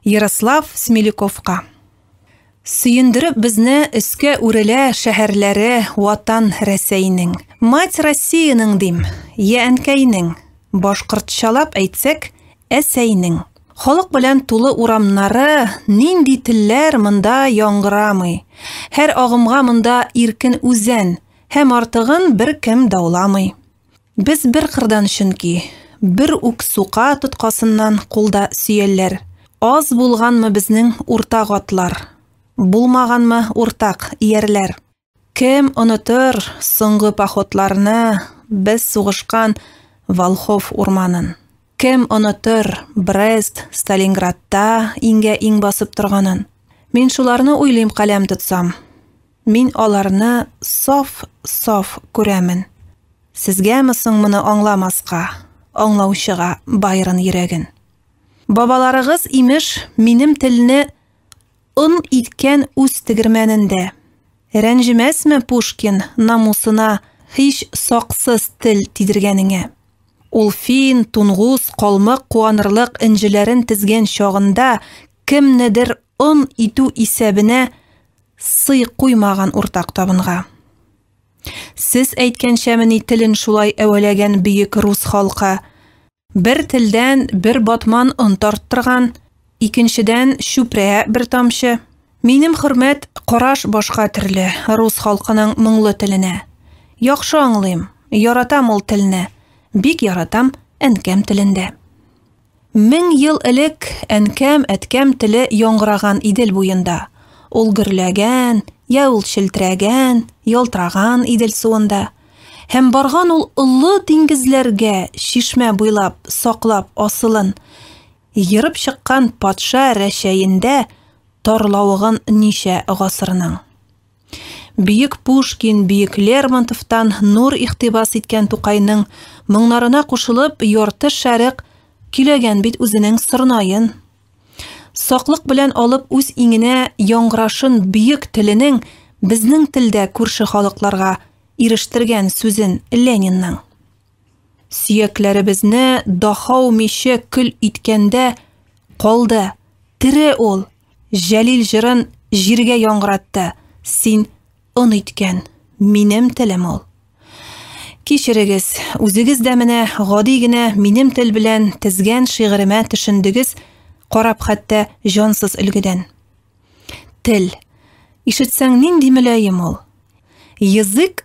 Ярослав Смелюковка. Сөендереп безне өскә үрелә шәһәрләре Ватан Рәсәйнең. Мать Россиянең дим, я әнкәйнең, башкортчалап әйтсәк, әсәйнең. Халык белән тулы урамнары, нинди телләр монда яңгырамый. Һәр агымга монда иркен үзән, һәм артыгын беркем дауламый. Без бер кырдан чөнки, бер үк сука тоткасыннан кулда сөялләр. Аз булганмы безнең уртак атлар, булмаганмы уртак иярләр. Кем онытыр соңгы походларны без сугышкан Волхов урманын? Кем онытыр Брест, Сталинградта иңгә-иң басып торганын? Мин шуларны уйлыйм каләм тотсам. Мин аларны саф, саф күрәмен. Сезгәме соң моны аңламаска, аңлаучыга Байрон йөрәген. Бабаларыгыз, имеш, минем телне он иткән үз тегермәнендә. Рәнҗемәсме Пушкин намусына һич саксыз тел тидергәнеңә? Ул фин, тунгус, калмык куанырлык энҗеләрен тезгән чагында кемнедер он итү исәбенә Сый куймаган уртак табынга. Сез әйткәнчәмени телен шулай әвәләгән бөек рус халкы? Бер телдән бер батман он тарттырган, икенчедән чүпрә бер тамчы. Минем хөрмәт караш башка төрле рус халкының моңлы теленә. Яхшы аңлыйм, яратам ул телне, бик яратам әнкәм телендә. Мең ел элек әнкәм, әткәм теле яңгыраган Идел буенда. Ул гөрләгән, йә ул челтерәгән, ялтраган Идел суында. Һәм барган ул олы диңгезләргә, чишмә буйлап, саклап асылын. Ерып чыккан патша Рәчәендә тарлавыгын ничә гасырның. Бөек Пушкин, Бөек Лермонтовтан нур ихтибас иткән Тукайның моңнарына кушылып, ярты шәрык киләгән бит үзенең сырнаен. Саклык белән алып үз иңенә яңгырашын бөек теленең безнең телдә күрше халыкларга ирештергән сүзен Ленинның. Сөякләребезне дахау миче көл иткәндә калды. Тере ул. Җәлил җырын җиргә яңгыратты. Син он иткән. Минем телем ул. Кичерегез, үзегез дә менә гади генә минем тел белән тезгән шигыремә төшендегез, карап хәтта җансыз өлгедән. Тел. Ишетсәң нинди мөлаем ул. Язык